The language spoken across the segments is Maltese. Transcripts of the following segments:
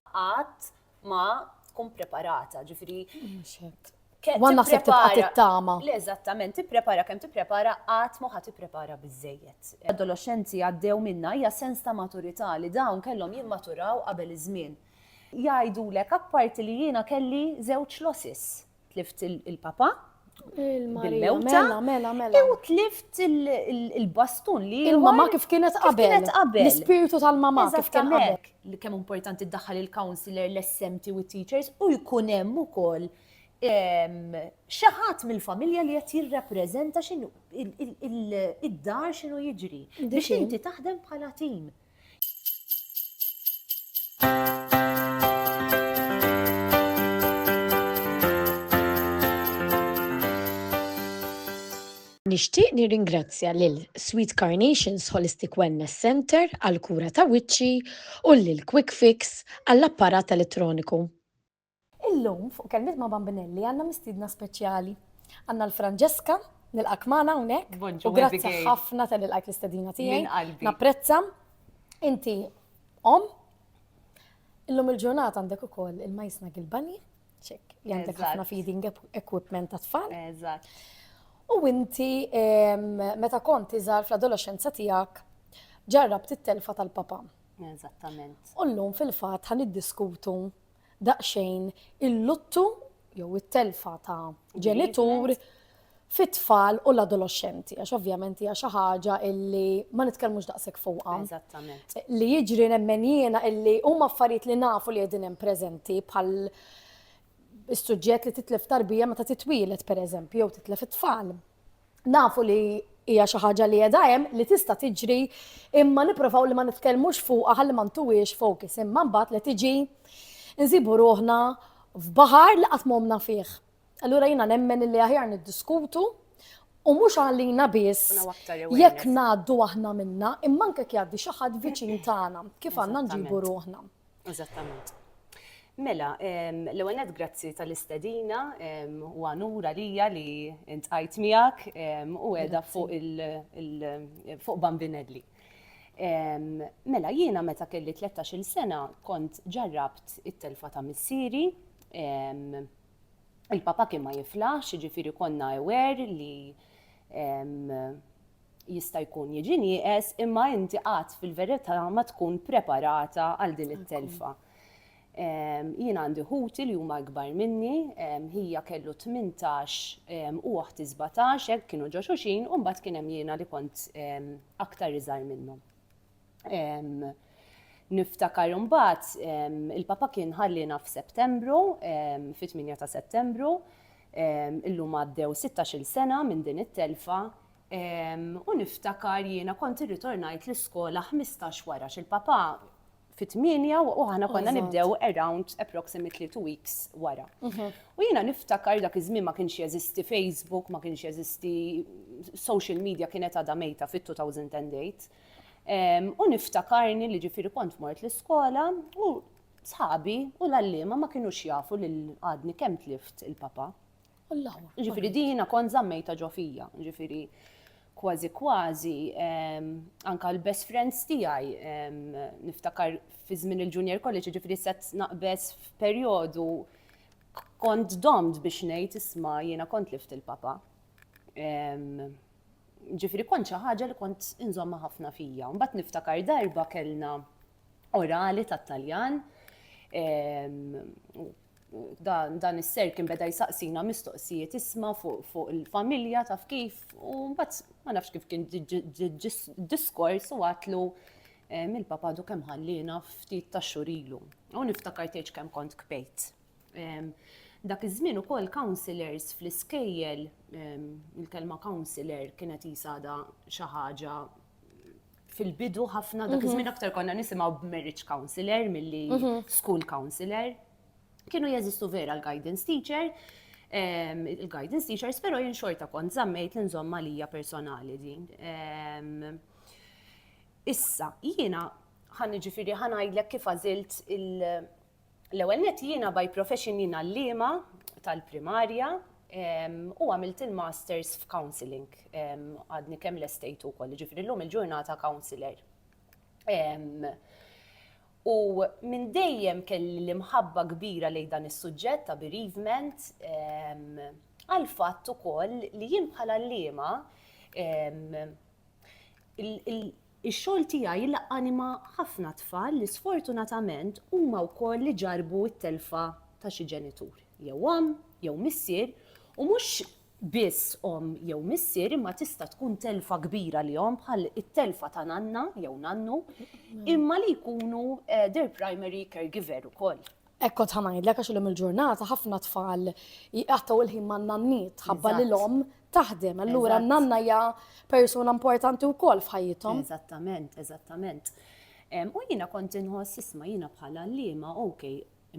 qatt ma tkun preparata, ġifiri. Għan naħseb tibqat it-tama. Le, eżattament, tipprepara kemm tipprepara qatt moħa tipprepara biżejjed. Adolescenti għaddew minna hija sens ta' maturità li dawn kellhom jimmaturaw qabel iż-żmien. Jgħidulek apparti li jiena kelli żewġ losses. tlift il-papa, il-mewta, mela, mela, mela. u tlift il-bastun li. Il-mama kif kienet qabel. L-spiritu tal-mama kif kien qabel. Li kemm importanti daħħal il-counselor, l-SMT u teachers u jkun hemm ukoll xaħat mill-familja li qed jirrappreżenta xinu id-dar xinu jiġri. Biex inti taħdem bħala tim. Nixtieq nirringrazzja lil Sweet Carnations Holistic Wellness Centre għall-kura ta' wiċċi u lil Quick Fix għall-apparat elettroniku. Illum fuq Kelmiet ma' Bambinelli għandna mistiedna speċjali. Għandna l Franġeska, nilqak magħna hawnhekk. U grazzi ħafna tal ilqajt l-istedina tiegħi. Napprezza. Inti om. Illum il-ġurnata għandek ukoll il-majsna Gilbani, ċek, għandek ħafna feeding equipment ta' tfal. Eżatt. U inti meta kont iżgħar fl-adolescenza tiegħek ġarrab it-telfa tal-papa. Eżattament. U llum fil-fatt ħan iddiskutu daqsxejn il-luttu jew it-telfa ta' ġenitur fit-tfal u l-adoloxxenti, għax ovvjament hija xi ħaġa illi ma nitkellmux daqshekk fuqha. Eżattament. Li jiġri nemmen jiena illi huma affarijiet li nafu li qegħdin hemm preżenti bħal is-suġġett li titlef tarbija meta titwieled pereżempju jew titlef it-tfal. Nafu li hija xi ħaġa li qiegħda hemm li tista' tiġri imma nipprovaw li ma nitkellmux fuqha ħalli ma ntuwiex focus imma mbagħad li tiġi nsibu ruħna f'baħar li qatt m'homna fih. Allura jiena nemmen li aħjar niddiskutu u mhux għalina biss jekk ngħaddu aħna minna imma anke jgħaddi xi ħadd viċin tagħna kif għandna nġibu ruħna. Eżattament. Mela, l-ewwel nett grazzi tal-istedina u għanura lija li intqajt miegħek u qiegħda fuq fuq Bambinelli. Mela, jiena meta kelli 13-il sena kont ġarrabt it-telfa ta' missieri, il-papa kien ma jiflaħx, ġifieri konna aware li Jista' jkun jiġi nieqes imma inti qatt fil-verità ma tkun preparata għal din it-telfa. Jien għandi ħuti li huma ikbar minni, ħija kellu 18 u oħti 17 hekk kienu ġo xuxin u mbagħad kien hemm jiena li kont aktar iżgħar minnhom. Niftakar imbagħad il-papa kien ħalliena f'Settembru, fit-8 ta' Settembru, illum għaddew 16-il sena minn din it-telfa, U niftakar jiena kont irritornajt l-iskola ħmistax wara x'il-papà fit-tmienja u aħna konna nibdew around approximately two weeks wara. Mhm. U jiena niftakar dak iż-żmien ma kienx jeżisti Facebook, ma kienx jeżisti social media kienet għadha mejta fit-2008. U niftakarni li ġifiri kont mort l-iskola u sħabi u l-allima ma kienu jafu li għadni kem tlift il-papa. Jiġifieri din jiena kont żammejtha ġo fija, jiġifieri kważi kważi ehm, anka l-best friends tiegħi ehm, niftakar fi żmien il-junior college, jiġifieri set naqbeż f'perjodu kont domt biex ngħid isma' jiena kont lift il-papa. Ehm, ġifri kont xi ħaġa li kont inżomma ħafna fija. Mbagħad niftakar darba kellna orali tat-Taljan Dan is-ser kien beda jsaqsina mistoqsijiet isma' fuq il-familja taf kif u mbagħad ma nafx kif kien diskors u għatlu eh, mill-papa du kemm ħallina ftit ta' xurilu. U niftakar tgħid kemm kont kbejt. Dak iż-żmien ukoll counselors fl-iskejjel, il-kelma counselor kienet jisada xi ħaġa fil-bidu ħafna dak iż-żmien mhm. aktar konna nisimgħu b'marriage counselor milli mhm. school counselor. Kienu jeżistu vera l-guidance teacher, ehm, il-guidance teachers, pero jien xorta kont zammejt l-inżomma lija personali din. Ehm, issa, jiena ħan ġifiri ħanajdlek kif għazilt L-ewwel nett jiena by profession jien għalliema tal-primarja u għamilt il-masters f'counselling. Għadni kemm lestejtu wkoll, jiġifieri llum il-ġurnata counsellor. U minn dejjem kelli l-imħabba kbira lejn dan is-suġġett ta' bereavement għall-fatt ukoll li jien bħala għalliema Ix-xogħol tiegħi jilaq anima ħafna tfal li sfortunatament huma wkoll li ġarrbu t-telfa ta' xi ġenitur, jew omm jew missier, u mhux biss omm jew missier imma tista' tkun telfa kbira lihom bħal it-telfa ta' nanna jew nannu, imma li jkunu their primary caregiver ukoll. Hekk kont ħa ngħidlek għax illum il-ġurnata ħafna tfal jqattgħu l-ħin man-nanniet ħabba li l-omm taħdem. Allura n-nanna hija persuna importanti wkoll f'ħajjithom. Eżattament, eżattament. U jiena kont inħoss isma' jiena bħala liema, ok,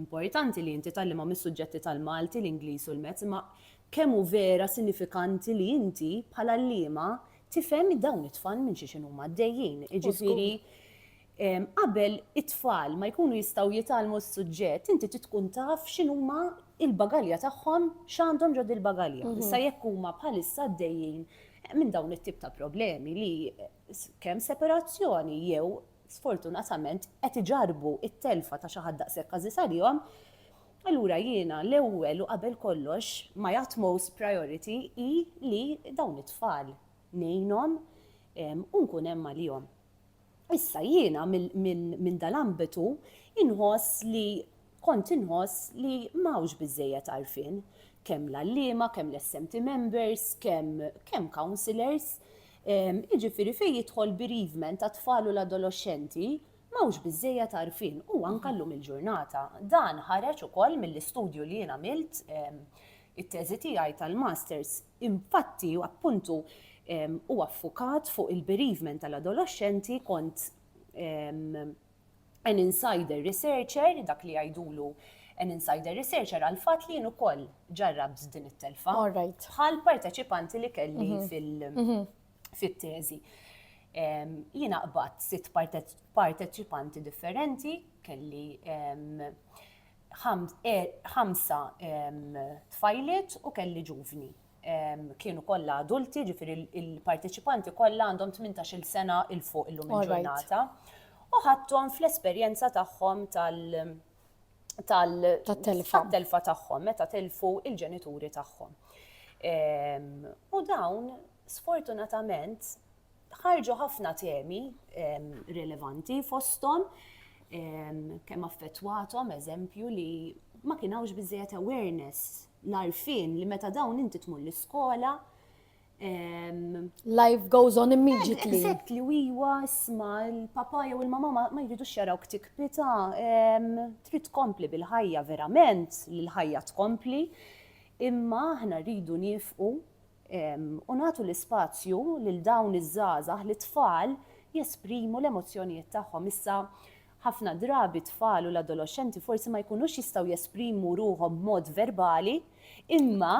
importanti li inti tallima mis-suġġetti tal-Malti, l-Ingliż u l-Mezz, ma kemm hu vera sinifikanti li inti bħala liema tifhem dawn it-tfal minn xi xinu maddejjin. Iġifieri Qabel it-tfal ma jkunu jistgħu jitgħallmu s-suġġett, inti trid tkun taf x'inhuma l-bagalja tagħhom, x'għandhom ġo dil-bagalja. Issa jekk huma bħalissa għaddejjin minn dawn it-tip ta' problemi li kemm separazzjoni jew sfortunatament qed iġarrbu t-telfa ta' xi ħadd daqshekk għażiż għalihom, allura jiena l-ewwel u qabel kollox my utmost priority hi li dawn it-tfal ngħinhom u nkun hemm għalihom. Issa jiena minn dal-ambitu inħoss li kont inħoss li m'hawnx biżżejjed għarfien, kemm l-għalliema, kemm l-SMT members, kemm kemm counsellors, jiġifieri fejn jidħol bereavement tat-tfal u l-adoloxxenti m'hawnx biżżejjed għarfien u anke llum il-ġurnata. Dan ħareġ ukoll mill-istudju li jien għamilt it-teżi tiegħi tal-masters. Infatti, appuntu, huwa ffukat fuq il-bereavement tal-adoloxxenti kont an insider researcher, dak li jgħidulu an insider researcher għall-fatt li jien ukoll ġarrabt din it-telfa bħal parteċipanti li kelli fit-teżi. Jiena qbadt sitt parteċipanti differenti, kelli ħamsa tfajliet u kelli ġuvni. Kienu kollha adulti, ġifieri il-parteċipanti kollha għandhom 18-il sena il fuq illum il-ġurnata. U ħadthom fl-esperjenza tagħhom tal- Tat-telfa. Tat-telfa tagħhom meta tilfu il-ġenituri tagħhom. U dawn sfortunatament ħarġu ħafna temi rilevanti fosthom kemm affettwathom eżempju li ma kien hawnx biżejjed awareness l-arfin li meta dawn inti tmur l-iskola Life goes on immediately. Exactly, u iwa, isma, il-papa jew il-mama ma jridu xjaraw ktik pita, trid tkompli bil-ħajja verament, l-ħajja tkompli, imma aħna rridu nifqu u nagħtu l-ispazju lil dawn iż-żgħażagħ, lit-tfal, jesprimu l-emozzjonijiet tagħhom. Issa, ħafna drabi t-tfal u l-adoloxxenti forsi ma jkunux jistgħu jesprimu ruħhom b'mod verbali, imma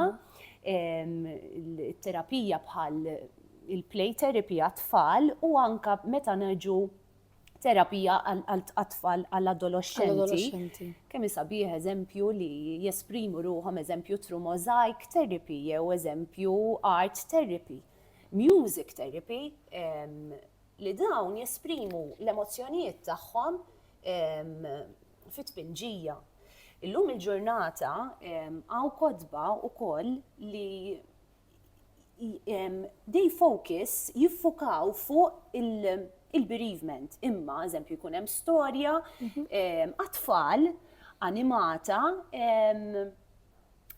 t-terapija bħal il-play therapy għat-tfal u anke meta niġu terapija għat-tfal, għall-adoloxxenti. Kemm hi sabiħ eżempju li jesprimu ruħhom, eżempju through mosaic therapy jew eżempju art therapy, music therapy, li dawn jesprimu l-emozzjonijiet tagħhom fi tpinġija. Illum il-ġurnata hawn kotba wkoll li they focus jiffukaw fuq il-bereavement. Imma, eżempju, jkun hemm storja għatfall mhm. animata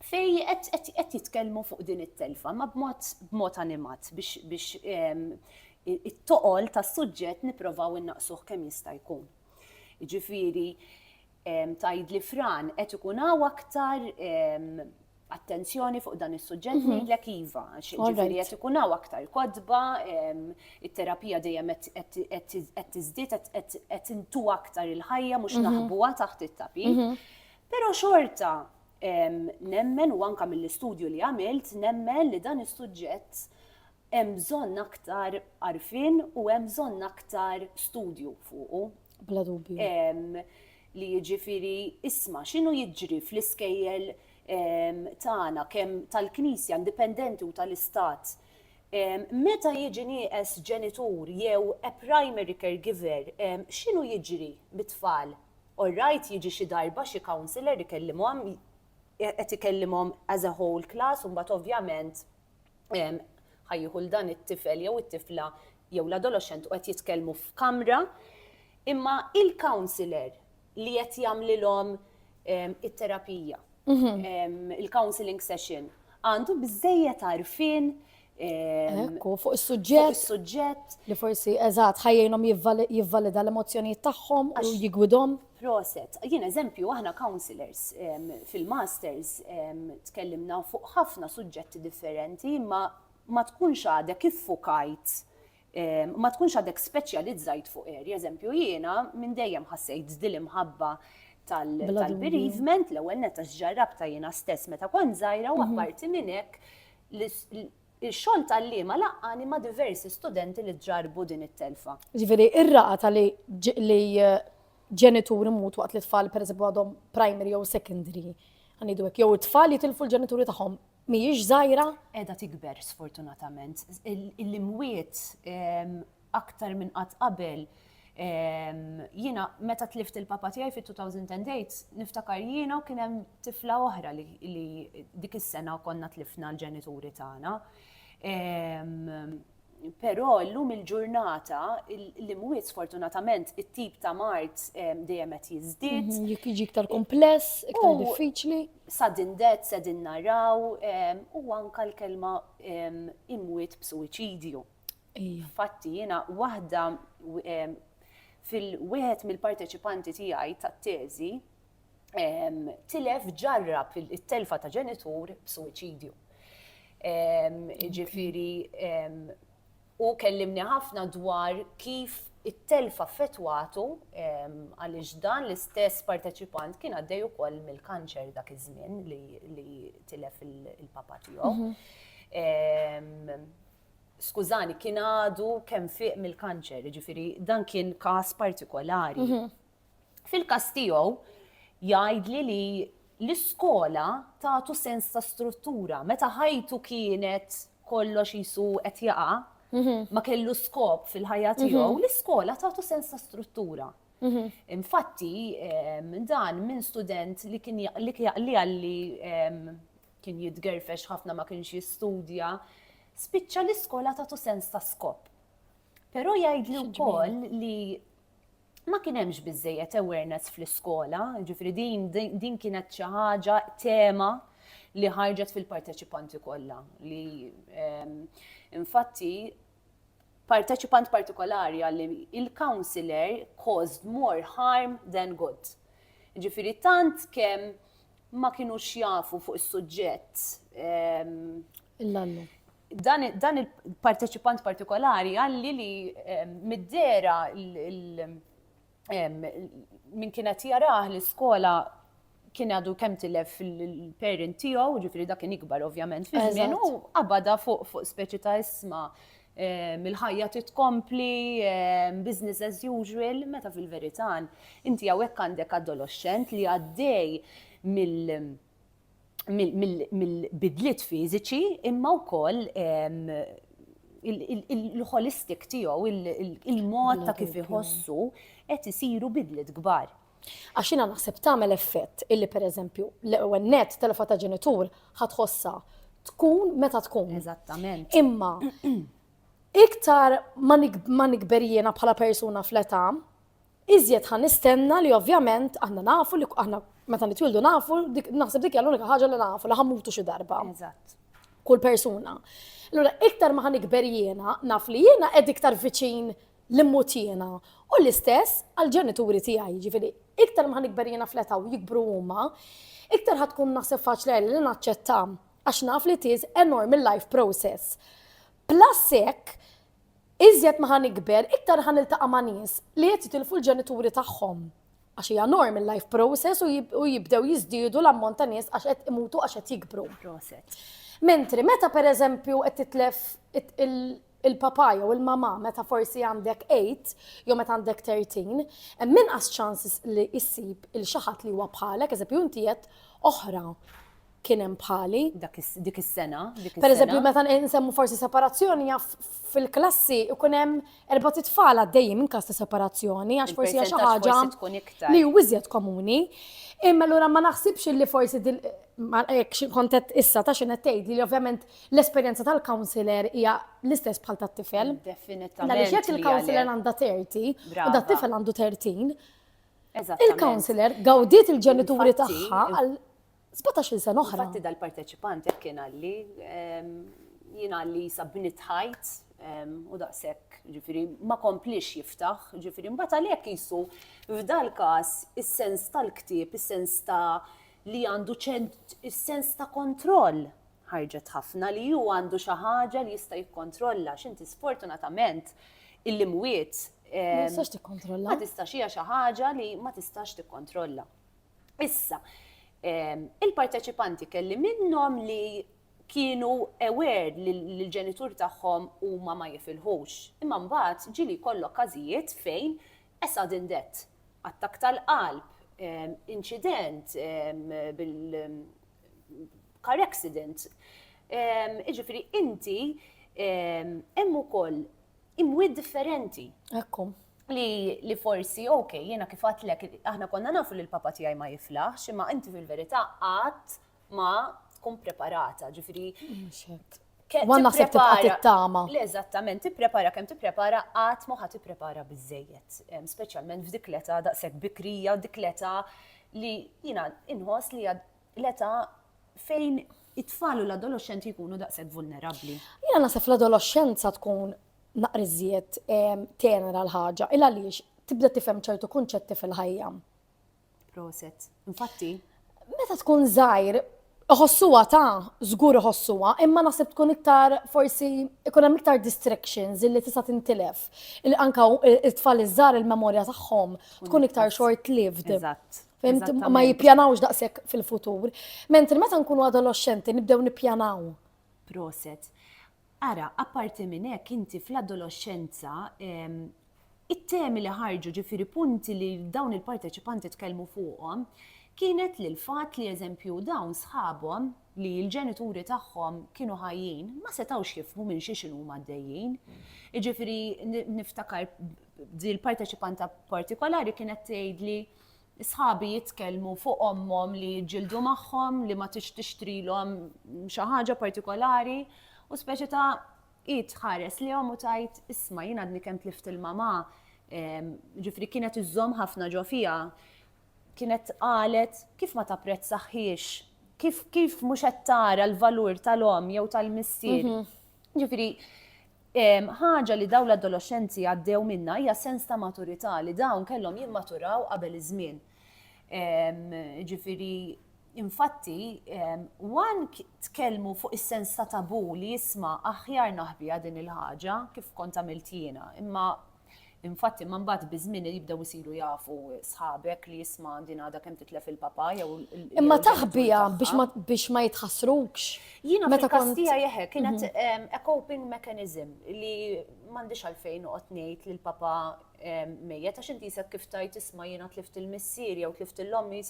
fej qed jitkellmu fuq din it-telfa, ma b'mod animat biex it-toqol tas-suġġett nipprovaw innaqsuh kemm jista' jkun. Ġifieri, tajd li fran qed ikun hawn aktar attenzjoni fuq dan is-suġġett mhm. ngħidlek iva, għax ġifieri qed ikun hawn aktar kodba, it-terapija dejjem qed tiżdied qed intu aktar il-ħajja mhux mhm. naħbuha taħt it-tapi. Mhm. Però xorta nemmen u anka mill-istudju li għamilt nemmen li dan is-suġġett hemm bżonn aktar arfin u hemm bżonn aktar studju fuqu. Bla dubju. Li jiġifieri isma' x'inhu jiġri fl-iskejjel tagħna, kemm tal-Knisja indipendenti u tal-Istat, meta jiġi nieqes ġenitur jew a primary caregiver, x'inhu jiġri bit-tfal? All right, jiġi xi darba xi counsellor ikellimhom, qed ikellimhom as a whole class u mbagħad ovvjament ħa jieħu 'l dan it-tifel jew it-tifla jew l-adoloxxent u qed jitkellmu f'kamra, imma il-counsellor li qed jagħmlilhom it-terapija, il-counseling session, għandu biżejjed għarfien Ekku, fuq is-suġġett. Is-suġġett. Li forsi eżatt ħajjinhom jivvalida l-emozzjonijiet tagħhom u jigwidhom. Proset. Jien eżempju aħna counselors fil-masters tkellimna fuq ħafna suġġetti differenti imma ma tkunx għadek iffukajt Ma tkunx għadek speċjalizzajt fuq eri, eżempju jiena minn dejjem ħassejt dil imħabba tal-bereavement, l-ewwel netta x'ġarrabta jiena stess meta kont żgħira u mhm. apparti minn hekk il-xogħol tal-liema laqqani ma' diversi studenti li ġarbu din it-telfa. Ġifieri, ir-raqa tal li eh, ġenituri mutu waqt li tfal pereżempju għadhom primary jew secondary, għanidu hekk, jew it-tfal jitilfu l-ġenituri tagħhom mhijiex żgħira, qiegħda tikber sfortunatament. Il-imwiet aktar minn qatt qabel jiena meta tlift il-papa tiegħi fit-2008 niftakar jiena u kien hemm tifla oħra li dik is-sena konna tlifna l-ġenituri tagħna. Però llum il-ġurnata l-imwiet sfortunatament it-tip ta' mart dejjem qed jiżdied. Jekk jiġi iktar kumpless, iktar diffiċli. Sudden death se din naraw u anka l-kelma imwiet b'suwiċidju. Fatti jiena waħda fil-wieħed mill-parteċipanti tiegħi tat-teżi tilef ġarrab it-telfa ta' ġenitur b'suwiċidju. Ġifiri, u kellimni ħafna dwar kif it-telfa fetwatu għaliex dan l-istess parteċipant kien għaddej ukoll mill-kanċer dak iż-żmien li tilef il-papa tiegħu. Mhm. Skużani, kien għadu kemm fiq mill-kanċer, ġifiri, dan kien każ partikolari. Mhm. Fil-każ tiegħu, jgħidli li l-iskola tagħtu sens ta' struttura. Meta ħajtu kienet kollox jisu qed jaqa', mhm. ma kellu skop fil-ħajja tiegħu, mhm. l-iskola tagħtu sens ta' struttura. Mhm. Infatti, dan minn student li kien li għalli kien jitgerfex ħafna ma kienx jistudja, spiċċa l-iskola tagħtu sens ta' skop. Però jgħidli wkoll li ma kien hemmx biżejjed awareness fl-iskola, ġifri din din kienet xi ħaġa tema li ħarġet fil-parteċipanti kollha li ehm, infatti parteċipant partikolari għalli il-counselor caused more harm than good. Ġifiri tant kemm ma kienu xjafu fuq is-suġġett ehm, L-allu. Dan il-parteċipant partikolari għalli li mid-dera minn kienet jarah l-iskola kien għadu kem tilef il-parent tiegħu, ġifri dak kien ikbar ovvjament fi żmien u qabada fuq fuq speċi ta' isma mill-ħajja titkompli business as usual meta fil-verità inti hawnhekk għandek adoloxxent li għaddej mill mill-bidliet fiżiċi imma wkoll il-holistic tiegħu, il-mod ta' kif iħossu qed isiru bidliet kbar. Għax jiena naħseb tagħmel effett illi pereżempju l-ewwel net telefa ta' ġenitur ħatħossha tkun meta tkun. Eżattament. Imma iktar ma nikber jiena bħala persuna fl-età, Iżjed ħa nistenna li ovvjament aħna nafu li aħna meta nitwildu nafu, naħseb dik hija l-unika ħaġa li nafu li ħammutu xi darba. Eżatt. Kull persuna. Allura iktar ma ħanikber jiena naf li jiena qed iktar viċin li mmut jiena. U l-istess għall-ġenituri tiegħi, ġifieri iktar ma ħanikber jiena fleta u jikbru huma, iktar ħad tkun naħseb faċli li naċċetta għax naf li tiż enorm il-life process. Plus hekk, Iżjed ma ħa nikber, iktar ħa niltaqa' ma' nies li qed jitilfu l-ġenituri tagħhom. Għax hija norm il-life process u jibdew jiżdiedu l-ammont ta' nies għax qed imutu għax qed jikbru. Mentri meta per eżempju qed titlef il-papà jew il-mamà meta forsi għandek eight jew meta għandek thirteen, hemm inqas ċans li issib 'il xi ħadd li huwa bħalek, eżempju inti għedt oħra. kien hemm bħali. Dak is- dik is-sena, dik is-sena. Pereżempju, meta n- nsemmu forsi separazzjoni jaf fil-klassi ikun hemm erbat itfal għaddejjin minn każ ta' separazzjoni għax forsi hija xi Il-percentaġġ ħaġa forsi tkun iktar. li hu iżjed komuni. Imma allura ma naħsibx li forsi din ma hekk xi kont qed issa ta' xi qed tgħidli li ovvjament l-esperjenza tal-counsellor hija l-istess bħal tat-tifel. Definitament. Għaliex jekk li il-counsellor għalhekk. għandha 30 u Brava. dat-tifel għandu 30, Eżattament. il-counsellor gawdiet il-ġenituri Infatti, tagħha għal Sbatax-il sena oħra. Infatti dal-parteċipant hekk kien għalli, ehm, jien għalli jisa bnit ħajt ehm, u daqshekk, ġifieri ma komplix jiftaħ, ġifieri mbagħad għalhekk jisu f'dal każ is-sens tal-ktieb, is-sens ta' li għandu ċent is-sens ta' kontroll ħarġet ħafna li ju għandu xi ħaġa li jista' jikkontrolla x'inti sfortunatament il-limwiet. Ma ehm, tistax tikkontrolla. Ma tistax hija xi ħaġa li ma tistax tikkontrolla. Issa, il-parteċipanti kelli minnhom li kienu aware li l-ġenituri tagħhom huma ma jifilħux. Imma mbagħad ġieli jkollok każijiet fejn a sudden death, attakk tal-qalb, inċident bil car accident. Jiġifieri inti hemm ukoll imwiet differenti. Ekku. Li, li forsi, ok, jiena kif għatlek, aħna konna nafu li l-papa tiegħi ma jiflaħx, imma inti fil-verità qatt ma tkun preparata, ġifiri. Għan naħseb tibqa' tittama. Le, eżattament, tipprepara kemm tipprepara qatt ma ħadd tipprepara biżejjed, speċjalment f'dik l-età daqshekk bikrija, dik l-età li jiena inħoss li l-età fejn it-tfal u l-adolescenti jkunu daqshekk vulnerabbli. Jiena naħseb l-adolescenza tkun naqriżiet tenera l-ħaġa, il għaliex tibda tifhem ċertu kunċetti fil-ħajja. Proset. Infatti. Meta tkun żgħir, Iħossuwa ta' żgur iħossuwa, imma naħseb tkun iktar forsi ikun hemm iktar distractions illi tista' tintilef. Anka it-tfal iż-żar il-memorja tagħhom tkun iktar short-lived. Eżatt. Fimt, ma jippjanawx daqshekk fil-futur. Mentri meta nkunu adolescenti nibdew nippjanaw. Proset. Ara, apparti minn hekk inti fl-adolescenza it-temi li ħarġu ġifiri punti li dawn il-parteċipanti tkellmu fuqhom kienet li l-fat li eżempju dawn sħabhom li l-ġenituri tagħhom kienu ħajjin ma setawx jifmu minn xi xinu maddejjin. Iġifiri niftakar dil parteċipanta partikolari kienet tgħidli Sħabi jitkellmu fuq ommhom li jiġġieldu magħhom, li ma tix tixtrilhom xi ħaġa partikolari, u speċi ta' id ħares li u tajt isma' jien għadni kemm tlift il-mamà, ehm, ġifri kienet iżżomm ħafna ġo fija. Kienet qalet kif ma tapprezzaħiex, kif kif mhux qed tara l-valur tal-omm jew tal-missier. Mhm. Ġifri, Ħaġa li dawn l-adoloxxenti għaddew minnha hija sens ta' maturità li dawn kellhom jimmaturaw qabel iż-żmien. Jiġifieri infatti wan tkellmu fuq is-sens ta' tabù li jisma' aħjar naħbiha din il-ħaġa kif kont għamilt jiena, imma Infatti ma mbagħad biż-żmien jibdew isiru jafu sħabek li jisma' din għadha kemm titlef il-papa jew Imma taħbija biex ma jitħassrukx. Jiena meta kont tija jeħe kienet mhm. a coping mechanism li m'għandix għalfejn noqgħod ngħid lil papa mejjet għax inti jisek kif tajt tisma' jiena tlift il-missier jew tlift il-lommi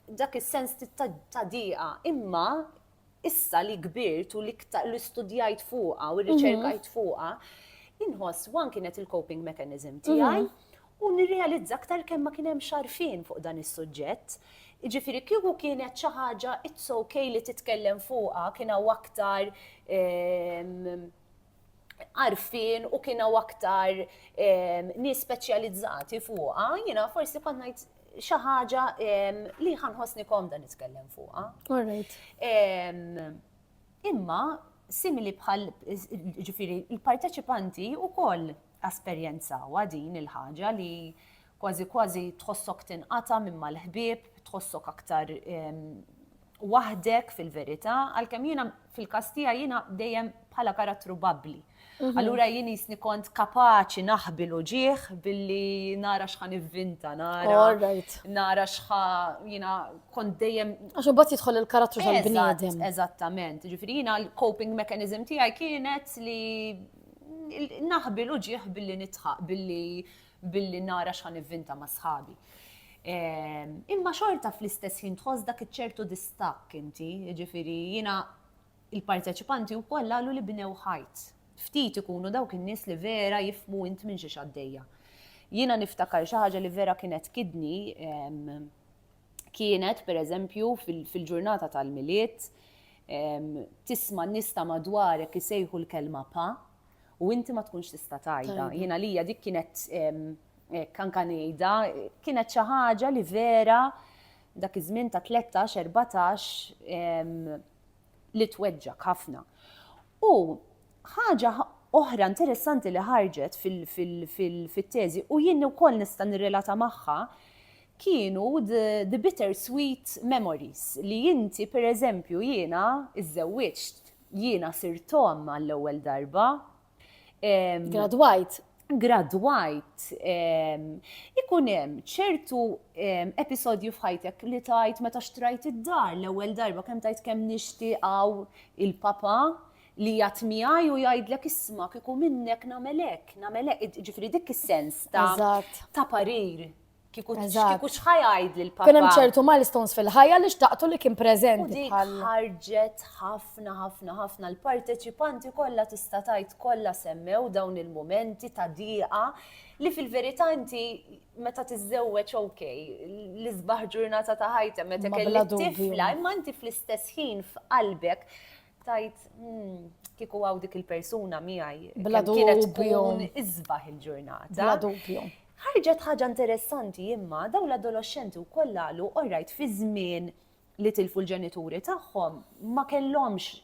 dak is-sens ta' diqa. Imma issa li kbirt u l-iktar li studjajt fuqha u rriċerkajt fuqha, inħoss wan kienet il-coping mechanism tiegħi u nirrealizza aktar kemm ma kien hemm xarfien fuq dan is-suġġett. Ġifieri kieku kienet xi ħaġa it's okay li titkellem fuqha kien hawn aktar ehm, għarfien u kienu aktar ehm, nies speċjalizzati fuqha, jiena forsi kont ngħid xi ħaġa ehm, li ħanħossni komda nitkellem fuqha. Ehm, imma simili bħal ġifiri il-parteċipanti u koll Esperjenzawha din il-ħaġa li kważi kważi tħossok tinqata' minn mal-ħbieb, tħossok aktar waħdek fil-verità, għalkemm jiena fil-każ tiegħi jiena dejjem bħala karattru babbli. Mhm. Allura jien jisni kont kapaċi naħbi l-uġieħ billi nara xħa nivvinta, nara. Nara xħa jina kont dejjem. Għaxu bat jitħol il-karattru tal-bniedem. Eżattament. Ġifiri jina l-coping mechanism tijaj kienet li naħbi l-uġieħ billi nitħaq, billi billi nara xħan ivvinta ma' sħabi. Ehm, imma xorta fl-istess ħin tħoss dak iċ-ċertu distakk inti, ġifiri jina il-parteċipanti u koll għallu li bnew ħajt. Ftit ikunu dawk in-nies li vera jifmu int minn xi xaddejja. Jina niftakar xi ħaġa li vera kienet kidni ehm, kienet, per eżempju, fil-ġurnata tal-milied, tisma nista madwarek isejħu l-kelma pa, u inti ma tkunx tista tajda. Jina li dik kienet kanka nejda, kienet xi ħaġa li vera dak iż-żmien ta' 13-14 li tweġġa ħafna. U ħaġa oħra interessanti li ħarġet fil-teżi u jien ukoll nista' nirrelata magħha Kienu the bitter sweet memories li inti per eżempju jiena iżżewwiġt, jiena sirt omm għall-ewwel darba. Gradwajt. Gradwajt. Ikun hemm ċertu episodju f'ħajtek li tgħid meta xtrajt id-dar l-ewwel darba kemm tgħid kemm nixtieq hawn il-papa li jgħat miegħi u jgħidlek isma' kieku minnek nagħmel hekk, nagħmel hekk, ġifieri dik is-sens ta' parir. Kiku kiku xħa jgħidli l-papa. Kien hemm ċertu milestones fil-ħajja li xtaqtu li kien preżenti. Ħarġet ħafna ħafna ħafna l-parteċipanti kollha tista' tajt kollha semmew dawn il-momenti ta' diqa li fil-verità inti meta tiżżewweġ ok, l-isbaħ ġurnata ta' ħajta meta kellek tifla, imma inti fl-istess ħin f'qalbek Tajt, hmm, kieku għaw dik il-persuna miegħi. Bla kienet tkun iżbaħ il-ġurnata. Bla dubju. Ħarġet ħaġa interessanti imma daw l-adolescenti u kollalu orrajt fi żmien li tilfu l-ġenituri tagħhom ma kellhomx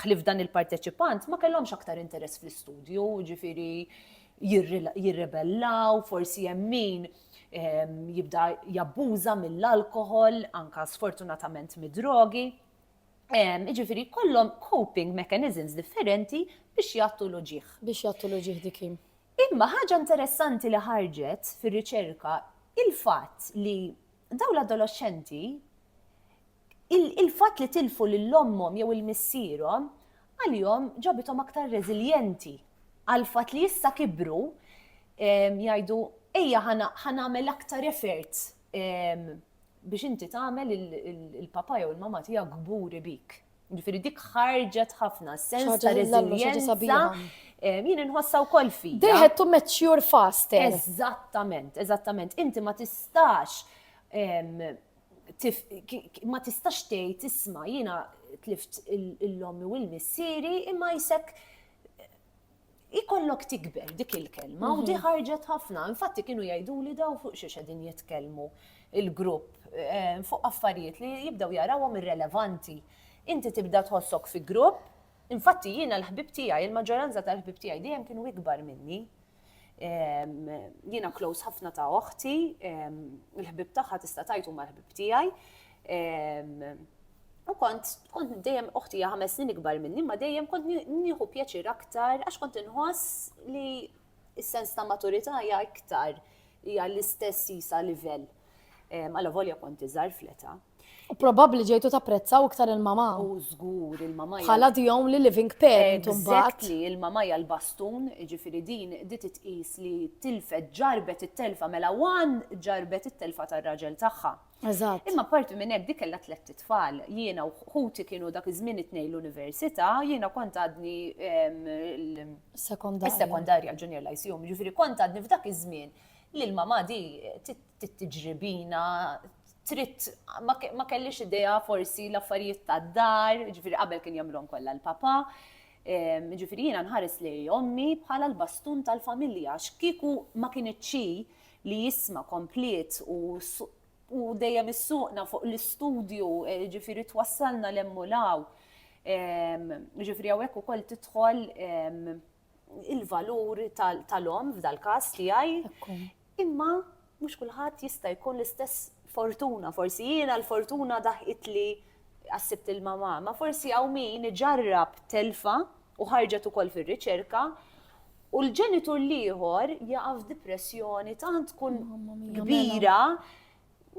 ħlif dan il-parteċipant ma kellhomx aktar interess fl-istudju, ġifiri jirrebellaw, forsi jemmin jibda jabbuża mill-alkohol, anka sfortunatament mid-drogi. Iġifiri, kollom coping mechanisms differenti biex jattu l-uġieħ. Biex jattu l-uġieħ dikim. Imma ħaġa interessanti li ħarġet fir-riċerka il-fatt li daw l-adoloxxenti il-fatt li tilfu lil ommhom jew il-missierhom għalihom ġabitom aktar reżiljenti għal fatt li issa kibru jgħidu ejja ħanagħmel aktar effort biex inti tagħmel il-papa jew il-mama tiegħek kburi bik. Ġifieri dik ħarġet ħafna sens ta' reżiljenza jien inħossa wkoll fi. They had to mature fast. Eżattament, eżattament. Inti ma tistax ma tistax tgħid isma' jiena tlift il-lommi u l-missieri imma jisek ikollok tikber dik il-kelma u di mhm. ħarġet ħafna. Infatti kienu jgħiduli daw fuq xiex qegħdin jitkellmu il-grupp eh, fuq affarijiet li jibdew jarawhom irrelevanti. Inti tibda tħossok fi grupp, infatti jiena l-ħbib tiegħi, il-maġġoranza tal-ħbib tiegħi dejjem kienu ikbar minni. Jiena close ħafna ta' oħti, il-ħbib tagħha tista' tajtu mal-ħbib tiegħi. U kont, kont dejjem uħti hija ħames snin ikbar minni, ma dejjem kont nieħu pjaċir aktar għax kont inħoss li s-sens ta' maturità hija iktar hija l-istess jisa livell. Alla volja kont iżgħar fleta. U probabbli ġejtu tapprezzaw iktar il-mama. U żgur il-mama. Bħala the only living parent imbagħad. li il-mama hija l-bastun, ġifieri din di titqis li tilfet ġarbet it-telfa mela wan ġarbet it-telfa tar-raġel tagħha. Eżatt. Imma apparti minn hekk dik kellha tlett itfal. Jiena u ħuti kienu dak iż-żmien it-tnejn l-università, jiena kont għadni is-sekondarja l-junior lyceum, jiġifieri kont għadni f'dak iż-żmien li l-mamà di tiġri bina, trid ma kellix idea forsi l-affarijiet tad-dar, jiġifieri qabel kien jagħmilhom kollha l-papà. Jiġifieri jiena nħares lejn ommi bħala l-bastun tal-familja għax kieku ma kinitx hi, li jisma kompliet u u dejjem issuqna fuq l-istudju, eh, ġifiri twassalna l-emmulaw. Ehm, ġifiri għawek u koll titħol ehm, il-valur tal-om f'dal-kas tijaj. Imma mux kullħat jista jkun l-istess fortuna, forsi jiena l-fortuna daħqit li għassibt il-mama, ma forsi għaw min ġarrab telfa u ħarġet ukoll fil-riċerka u l-ġenitur l-ieħor jaqa' f'dipressjoni tant tkun kbira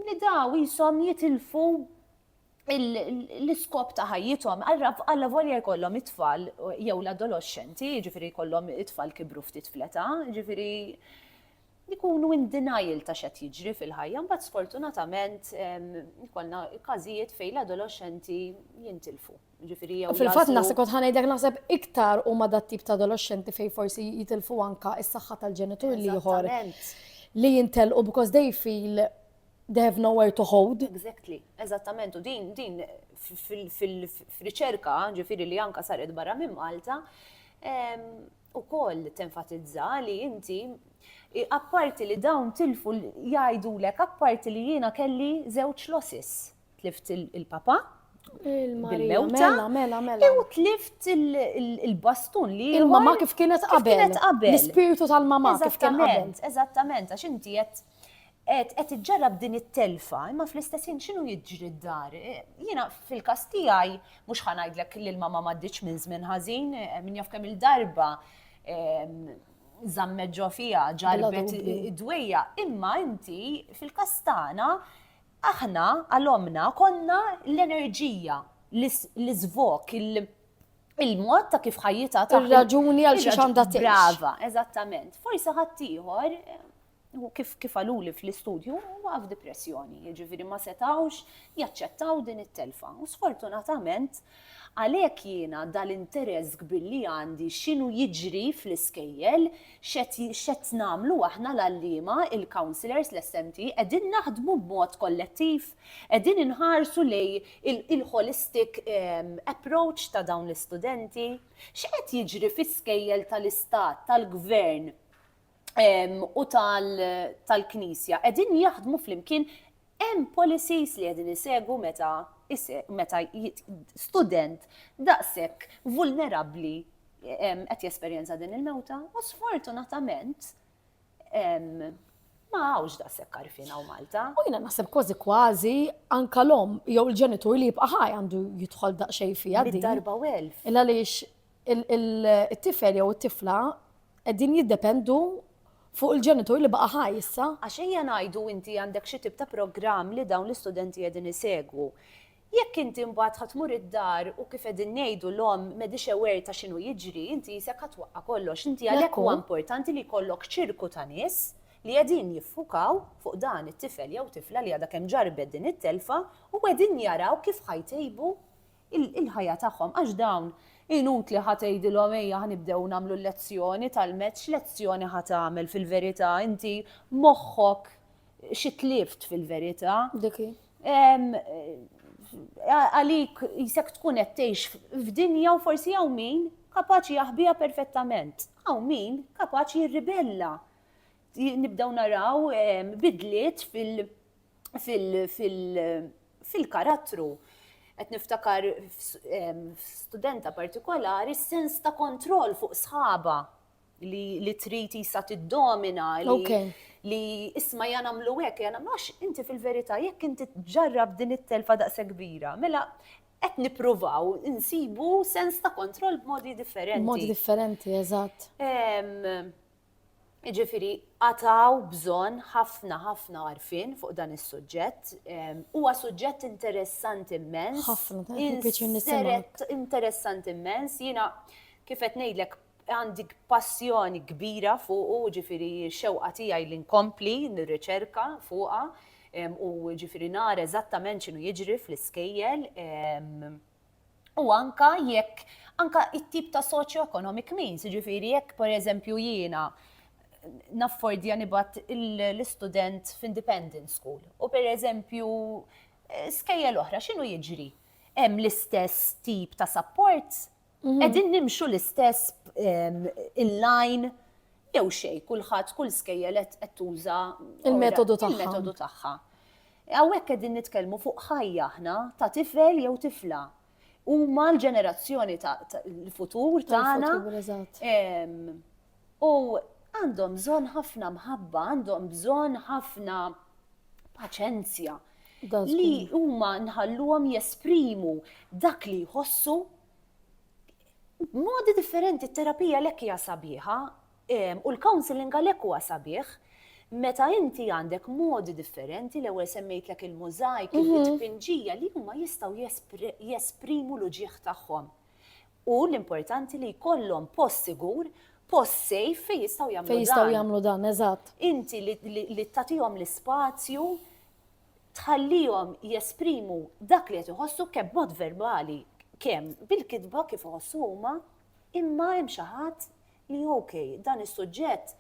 li daw jisom jitilfu l-iskop ta' ħajjithom, għalla volja jkollhom it-tfal jew l-adolescenti, ġifiri jkollhom it-tfal kibru ftit fleta, ġifiri jkunu in denial ta' xed jiġri fil-ħajja, mbagħad sfortunatament jkollna każijiet fejn l-adolescenti jintilfu. Fil-fatt naħseb kont ħa ngħidlek naħseb iktar huma dat-tip ta' adoloxxenti fejn forsi jitilfu anka s-saħħa tal-ġenitur l-ieħor li jintelqu because they feel they have nowhere to hold. Exactly, eżattament, u din, din fil-riċerka, ġifiri li anka saret barra minn Malta, u koll tenfatizza li inti apparti li dawn tilfu jgħidu lek apparti li jiena kelli zewċ losses tlift il-papa, il-mewta, mela, mela, mela. u tlift il-bastun li. Il-mama kif kienet qabel. Kienet qabel. L-spiritu tal-mama kif kien qabel. Eżattament, għax inti qed qed iġġarrab din it-telfa, imma fl-istess ħin x'inhu jiġri d-dar. Jiena fil-każ tiegħi mhux ħanajdlek li l-mama m'għaddiċ minn żmien ħażin, eh, min jaf kemm il-darba ehm, żammet ġo fiha ġarbet id-dwejja, imma inti fil-każ tagħna Aħna għal ommna konna l-enerġija, l-iżvok, il-mod ta' kif ħajjitha ta' raġuni għal xi għandha tgħix. Brava, eżattament. Forsi ħadd ieħor kif kif għaluli fl-istudju huwa f'depressjoni, jiġifieri ma setawx jaċċettaw din it-telfa. U sfortunatament Għalhekk jiena dal-interess kbir li għandi x'inhu jiġri fl-iskejjel, x'qed x'qed nagħmlu aħna l-għalliema, il-counsellors, l-SMT, qegħdin naħdmu b'mod kollettiv? Qegħdin inħarsu lejn il-holistic approach ta' dawn l-istudenti? X'qed jiġri fi skejjel tal-istat, tal-gvern u tal-knisja? Qegħdin jaħdmu flimkien Hemm policies li qegħdin isegwu meta meta student daqshekk vulnerabbli qed jesperjenza din il-mewta u sfortunatament ma hawnx daqshekk għarfien hawn Malta. U jiena naħseb kważi kważi anka l-omm jew il-ġenitur li jibqa' ħaj għandu jidħol daqsxejn fiha din. Darba u elf. Illa għaliex it-tifel jew it-tifla qegħdin jiddependu fuq il-ġenitur li baqa' ħaj issa. Għax ejja ngħidu inti għandek xi tip ta' programm li dawn l-istudenti qegħdin isegwu. Jekk inti mbagħad ħa tmur id-dar u kif qegħdin ngħidu l-omm m'għedhiex aware ta' x'inhu jiġri, inti qisek ħa twaqqa' kollox. Inti għalhekk huwa importanti li jkollok ċirku ta' nies li qegħdin jiffukaw fuq dan it-tifel jew tifla li għadha kemm ġarrbet din it-telfa u qegħdin jaraw kif ħa jtejbu il-ħajja tagħhom għax dawn inutli ħa tgħidilhom ejja ħa nibdew nagħmlu l-lezzjoni tal-mezz x'lezzjoni ħa tagħmel fil-verità inti moħħok xi tlift fil-verità. Dik hi. Għalik jisek tkun qed tgħix f'dinja u forsi hawn min kapaċi jaħbiha perfettament. Hawn min kapaċi jirribella. Nibdew naraw bidliet fil- fil-karattru qed niftakar studenta partikolari sens ta' kontroll fuq sħaba li trid jisa tiddomina li isma' ja nagħmlu hekk ja nagħmlu għax inti fil-verità jekk inti ġġarrab din it-telfa daqs kbira mela qed nippruvaw insibu sens ta' kontroll b'modi differenti. B'modi differenti, eżatt. Jiġifieri qatgħu bżonn ħafna ħafna għarfien fuq dan is-suġġett. Huwa suġġett interessanti immens. Ħafna, pjaċir nisimgħek. Interessanti immens, jiena kif qed ngħidlek għandi passjoni kbira fuqu, ġifieri xewqa tiegħi li nkompli nirriċerka fuqha u ġifieri nara eżattament x'inhu jiġri fl-iskejjel. u anke jekk anke it-tip ta' soċjoeconomic means, jiġifieri jekk pereżempju jiena naffordja nibgħat l-istudent f'independent school u pereżempju skejjel oħra x'inhu jiġri? Hemm l-istess tip ta' supports? Qegħdin nimxu l-istess in line jew xejn kulħadd kull skejjel qed tuża il-metodu tagħha. Hawnhekk qegħdin nitkellmu fuq ħajja aħna ta' tifel jew tifla. Huma l-ġenerazzjoni ta' l-futur tagħna. U għandhom bżonn ħafna mħabba, għandhom bżonn ħafna paċenzja li huma nħalluhom jesprimu dak li jħossu b'modi differenti. Terapija lekk hija sabiħa U l-counselling għalhekk huwa sabiħ meta inti għandek modi differenti, l-ewwel semmejtlek il-mużajk, it-tpinġija li huma jistgħu jesprimu l-uġigħ tagħhom. U l-importanti li jkollhom post sigur, post safe fejn jistgħu jagħmlu dan. Fejn jistgħu jagħmlu dan, eżatt. Inti li tagħtihom l-ispazju, tħallihom jesprimu dak li qed iħossu kemm b'mod verbali, kemm bil-kitba kif iħossu huma, Imma hemm xi ħadd li ok, dan is-suġġett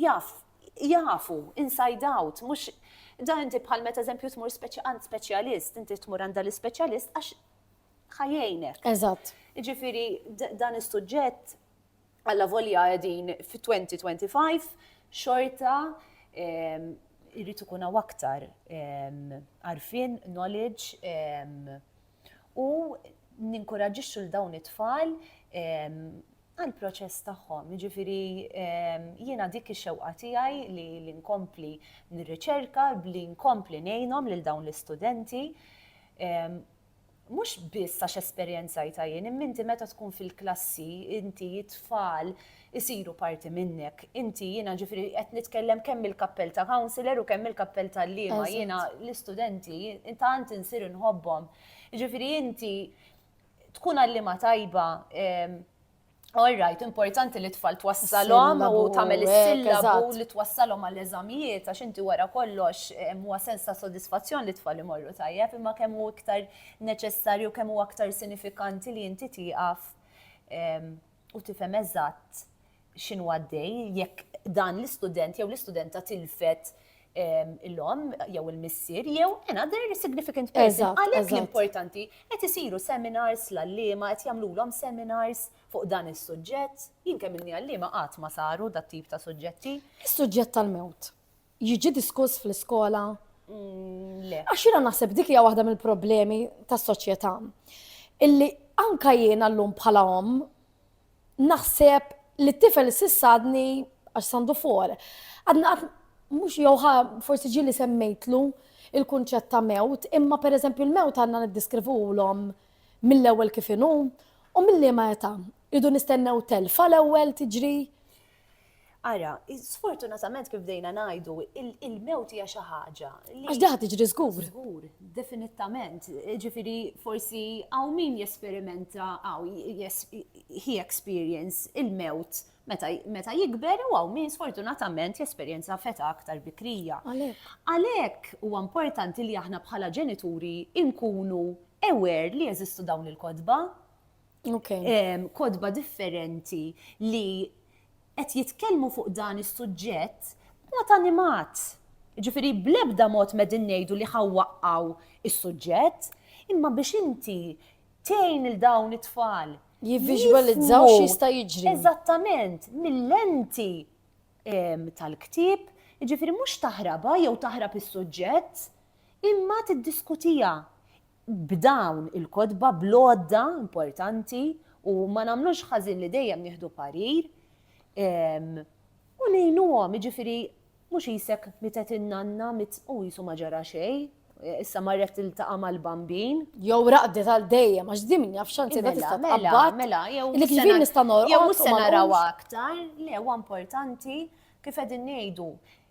jaf jafu inside out, mhux dan inti bħal meta eżempju tmur għand speċjalist, inti tmur għand dal-ispeċjalist għax ħa jgħinek. Eżatt. Jiġifieri dan is-suġġett alla volja qegħdin fit-2025 xorta jrid ikun hawn aktar għarfien, knowledge, u ninkuraġixxu l dawn it-tfal għall-proċess tagħhom. Jiġifieri jiena dik ix-xewqa tiegħi li nkompli nirriċerka, li nkompli ngħinhom lil dawn l-istudenti. Mhux biss għax esperjenzajtha jien, imma inti meta tkun fil-klassi, inti t-tfal isiru parti minnek. Inti, jiena ġifieri qed nitkellem kemm mill-kappell ta' councillor u kemm mill-kappell t'għalliema, jiena l-istudenti tant insir inħobbhom. Jiġifieri inti tkun għalliema tajba, all right, importanti li t-tfal twassalhom u tagħmel is-sillabu li twassalhom għall-eżamijiet għax inti wara kollox huwa sens ta' sodisfazzjon li t-tfal imorru tajjeb imma kemm hu iktar neċessarju kemm hu aktar sinifikanti li inti tieqaf u tifhem eżatt x'inhu għaddej jekk dan l-istudent jew l-istudenta tilfet l-omm jew il-missier jew another significant person. Għalhekk l-importanti qed isiru seminars l-għalliema qed jagħmlulhom seminars fuq dan is-suġġett. Jien kemm inni għalliema qatt ma saru dat-tip ta' suġġetti. Is-suġġett tal-mewt. jiġi diskuss fl-iskola? Mm, le. Għax jiena naħseb dik hija waħda mill-problemi tas-soċjetà. Illi anka jiena llum bħala om naħseb li t-tifel sissadni għax sandu for. Għadna għad mux jowħa forsi ġili semmejtlu il-kunċett ta' mewt, imma per eżempju l-mewt għanna niddiskrivu l-om mill-ewel kifinu u mill-li ma jeta. Idu nistennew telfa l-ewel tiġri Ara, sfortunatament kif bdejna ngħidu, il-mewt hija xi ħaġa. Għax daħ tiġri żgur. Żgur, definittament. Ġifieri forsi hawn min jesperimenta hawn he experience il-mewt meta jikber u hawn min sfortunatament jesperjenza feta aktar bikrija. Għalhekk huwa importanti li aħna bħala ġenituri nkunu aware li jeżistu dawn il-kotba. kotba differenti li qed jitkellmu fuq dan is-suġġett b'mod animat. Ġifieri bl-ebda mod medin ngħidu li ħawwaqqaw is-suġġett, imma biex inti tgħin il dawn it-tfal jivviżwalizzaw x'jista' jiġri. Eżattament, mill-lenti tal-ktieb, ġifieri mhux taħrabha jew taħrab is-suġġett, imma tiddiskutija. b'dawn il-kotba, bl-għodda importanti u ma nagħmlux ħażin li dejjem nieħdu parir u ngħinuhom, jiġifieri mhux qisek mietet in-nanna u qisu ma ġara xejn, issa marret tiltaqa' mal-bambin. Jew raqdet għal dejjem għax din min jaf x'għan tibda tista' mela, mela, tqabbad. Mela, jew li kif nista' norqod. Jew mhux se naraw aktar, le huwa importanti kif qegħdin ngħidu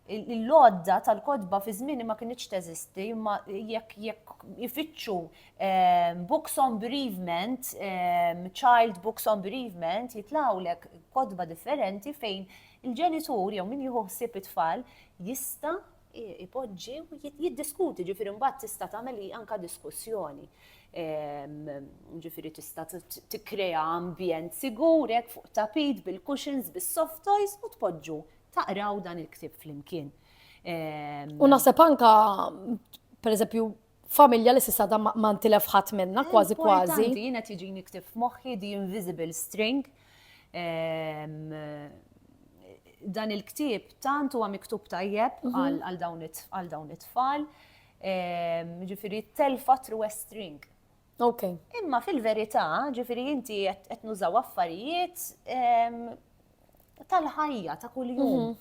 l-għodda tal-kotba fi żmieni ma kinitx teżisti, imma jekk jekk ifittxu ehm, books on bereavement, ehm, child books on bereavement, jitlawlek kotba differenti fejn il-ġenitur jew min jieħu ħsieb it-tfal jista' ipoġġi u jiddiskuti ġifieri mbagħad tista' tagħmel anka diskussjoni. Ehm, ġifieri tista' tikkrea ambjent sigur hekk fuq tapit bil-cushions bis-soft toys u tpoġġu taqraw dan il-ktib flimkien. Ehm, u naħseb anka, per eżempju, familja li sissa da ma ntilef ħadd minna, kważi kważi. Jiena tiġi niktib f'moħħi The Invisible String. Ehm, dan il-ktib tant huwa miktub tajjeb mhm. għal dawn it-tfal. Ehm, ġifieri telfa true string. Okay. Imma fil-verità, ġifiri inti qed nużaw affarijiet ehm, tal-ħajja ta' kuljum mhm.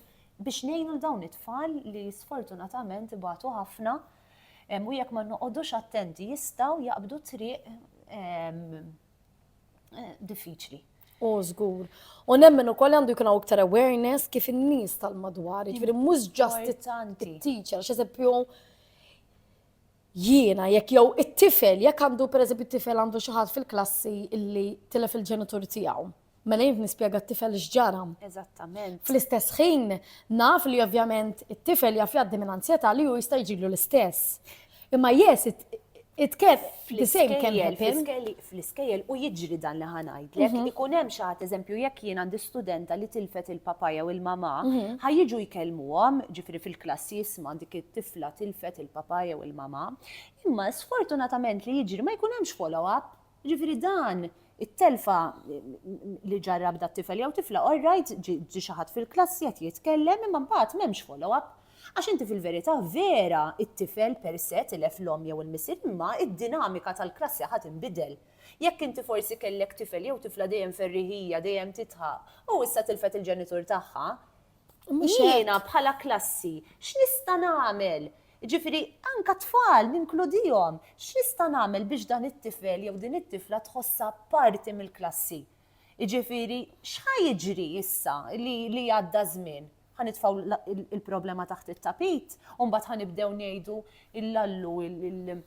biex ngħinu dawn it-tfal li sfortunatament ibatu ħafna ehm, u jekk ma noqogħdux attenti jistgħu jaqbdu triq ehm, eh, diffiċli. U żgur. U nemmen ukoll għandu jkun hawn iktar awareness kif in-nies tal-madwar, ġifieri mhux ġast it-teacher, x'eżempju Jiena jekk jew it-tifel, jekk għandu pereżempju t-tifel għandu xi ħadd fil-klassi illi tilef il-ġenitur tiegħu, mela jien nispjega t-tifel x'ġara. Eżattament. Fl-istess ħin naf li ovvjament it-tifel jaf jgħaddi minn anzjetà li hu jista' jiġrilu l-istess. Imma yes, it, it can, the same can happen. Fl-iskejjel, fl-iskejjel u jiġri dan li ħa ngħidlek, ikun hemm xi ħadd eżempju jekk jien għandi studenta li tilfet il-papà jew il-mamà, ħa jiġu jkellmuhom, ġifieri fil-klassi isma' dik it-tifla tilfet il-papà jew il-mamà. Imma sfortunatament li jiġri ma jkun hemmx follow up. Ġifieri dan it-telfa li ġarrab dat-tifel jew tifla all right ġie xi ħadd fil-klassi qed jitkellem imma mbagħad m'hemmx follow up. Għax inti fil-verità vera t-tifel per se tilef l-omm jew il-missier imma d-dinamika tal-klassi ħa tinbidel. Jekk inti forsi kellek tifel jew tifla dejjem ferriħija, dejjem tidħaq, u issa tilfet il-ġenitur tagħha, jiena bħala klassi x'nista' nagħmel? Jiġifieri anke t-tfal ninkludihom, x'nista' nagħmel biex dan it-tifel jew din it-tifla tħossha parti mill-klassi? Jiġifieri x'ħa jiġri issa li għadda ż-żmien? Ħa nitfgħu il-problema taħt it-tapit u mbagħad ħa nibdew ngħidu il-lallu il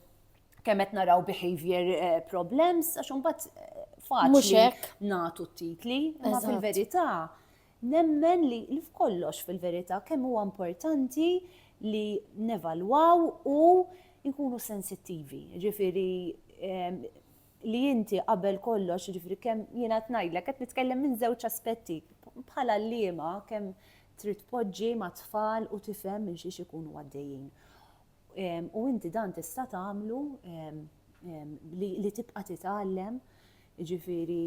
kemm qed naraw behavior eh, problems għax imbagħad eh, faċli nagħtu t-titli, imma fil-verità nemmen li f'kollox fil-verità kemm huwa importanti li nevalwaw u nkunu sensittivi. Ġifieri eh, li inti qabel kollox, jiġifieri kemm jiena qed ngħidlek, qed nitkellem minn żewġ aspetti, bħala għalliema kemm trid tpoġġi mat-tfal u tifhem minn xiex ikunu għaddejjin. U inti dan tista' tagħmlu li tibqa' titgħallem, jiġifieri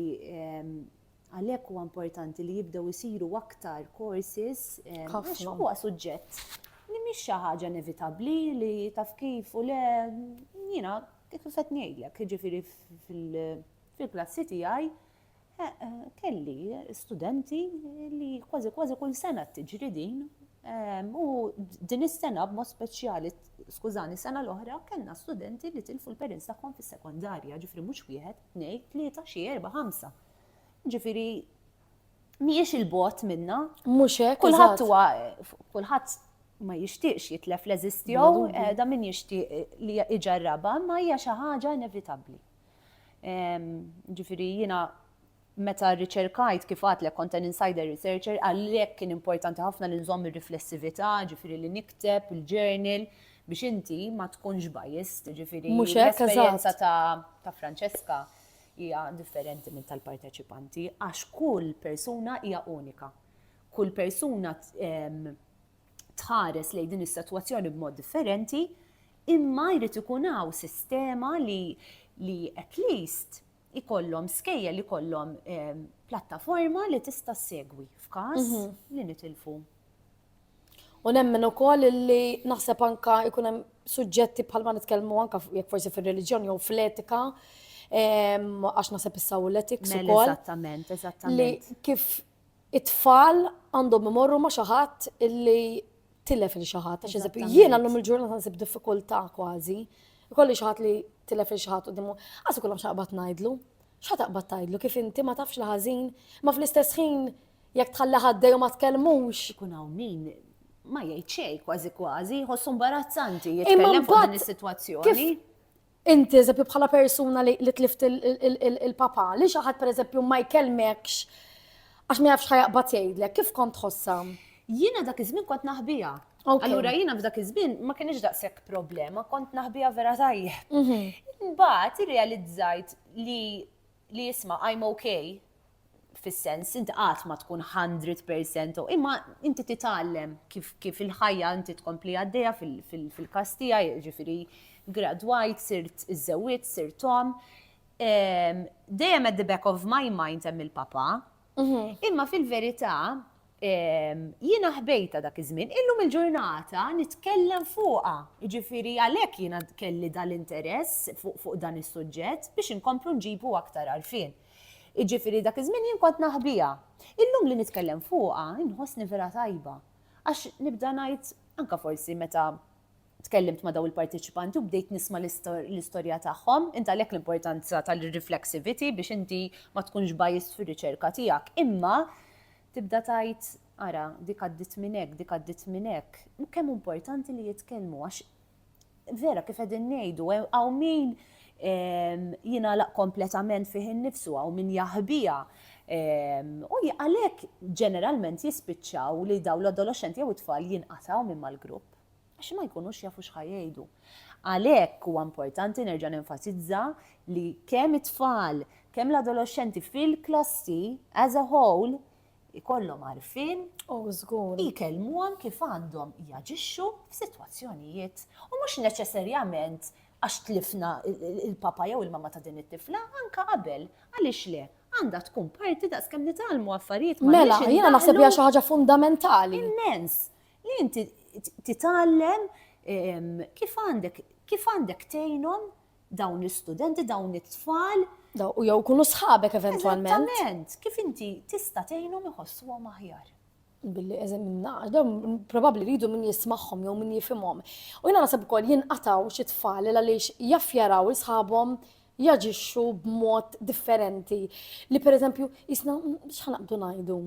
għalhekk huwa importanti li jibdew isiru aktar courses għax huwa suġġett li mhix xi ħaġa inevitabbli li taf kif u le jiena Kif u set ngħidlek, jiġifieri fil-klassi tiegħi kelli studenti li kważi kważi kull sena tiġri din ehm, u din is-sena b'mod speċjali, skużani, sena l-oħra kellna studenti li tilfu l-parents tagħhom fis-sekondarja, ġifri mhux wieħed, tnejn, tlieta, xi erba' ħamsa. Ġifiri, mhijiex il bogħod minna. Mhux hekk. Kulħadd huwa kulħadd ma jixtieqx jitlef l-eżistjow, eh, da min jixtieq eh, li iġarraba, ma hija xi ħaġa inevitabbli. Ġifieri jiena meta riċerkajt kif għat l kont insider researcher, għallek kien importanti ħafna li nżomm ir-riflessività, ġifieri li nikteb il-journal biex inti ma tkunx bajist, ġifieri l-esperjenza ta' Francesca Hija differenti minn tal-parteċipanti għax kull persuna hija unika. Kull persuna tħares lejn din is-sitwazzjoni b'mod differenti, imma jrid ikun hawn sistema li li at least ikollhom skejja li kollhom plattaforma li tista' segwi f'każ mhm. li nitilfu U nemmen ukoll illi naħseb anka jkun hemm suġġetti bħalma nitkellmu anka jekk forsi fir-reliġjon jew fl-etika, għax naħseb issa u l-etiks Mel, ukoll. Eżattament, eżattament. Li kif it-tfal għandhom imorru ma' xi ħadd illi tilef il xi ħadd. Għax eżempju, jien għallum il-ġurnata nsib diffikultà kważi. Ikolli xi ħadd li tilef il xi ħadd quddiemu. Għażu kollha xaqbad ngħidlu. X'ħa taqbad tgħidlu kif inti ma tafx l-ħażin, ma fl-istess ħin Jekk tħalli ħaddej u ma tkellmux. Ikun hawn min ma jgħid xejn kważi kważi, jħossu imbarazzanti jitkellem fuq din is-sitwazzjoni. Inti eżempju bħala persuna li tlift il-papa, li xi ħadd pereżempju ma jkellmekx għax ma jafx ħajaqbad jgħidlek, kif kont tħossha? Jiena dak iż-żmien kont naħbija. Allura jiena f'dak iż-żmien ma kienx daqshekk problema, kont naħbija vera tajjeb. Mhm. Imbagħad irrealizzajt li li isma' I'm ok fis-sens inti qatt ma tkun hundred percent ok, imma inti titgħallem kif kif il-ħajja inti tkompli għaddejja fil-każ tiegħi, jiġifieri gradwajt, sirt żewwidt, sirt omm. Dejjem at the back of my mind hemm il-papa, Imma fil-verità, jiena ħbejtha dak iż-żmien, illum il-ġurnata nitkellem fuqha. Jiġifieri għalhekk jiena kelli dan l-interess fuq dan is-suġġett biex inkomplu nġibu aktar għarfien. Jiġifieri dak iż-żmien jien kont naħbiha. Illum li nitkellem fuqha inħossni vera tajba. Għax nibda ngħid, anke forsi meta Tkellimt ma' dawn il-parteċipanti u bdejt nisma' l-istorja tagħhom. Int għalhekk l-importanza tal-reflexivity biex inti ma tkunx biased fir-riċerka tiegħek. Imma tibda tgħid, ara, dik għaddiet minn hekk, dik għaddiet minn hekk. Kemm hu importanti li jitkellmu għax vera kif qegħdin ngħidu, hawn min jingħalaq kompletament fih innifsu, hawn min jaħbiha. U għalhekk ġeneralment jispiċċaw li dawn l-adoloxxenti jew it-tfal jinqatgħu minn mal-grupp. għax ma jkunux jafu x'ħa jgħidu. Għalhekk huwa importanti nerġa' nenfasizza li kemm it-tfal, kemm l-adoloxxenti fil-klassi as a whole ikollhom għarfien u żgur jkellmuhom kif għandhom jaġixxu f'sitwazzjonijiet u mhux neċessarjament għax tlifna il-papa jew il-mama ta' din it-tifla, anka qabel, għaliex le, għandha tkun parti daqskemm nitgħallmu affarijiet ma' Mela, jiena naħseb hija xi ħaġa fundamentali. Immens. Li inti titgħallem kif għandek kif għandek tgħinhom dawn l-istudenti, dawn it-tfal. U jew kunu sħabek eventwalment. Eżattament, kif inti tista' tgħinhom iħossuhom aħjar billi eżemina, dawn probabli rridu min jismaħħom jew min jifimhom. U jina nasab ukoll jinqataw xi tfal għaliex jaff jaraw isħabhom jaġixxu b'mod differenti. Li pereżempju jisna x'ħanaqdu ngħidu.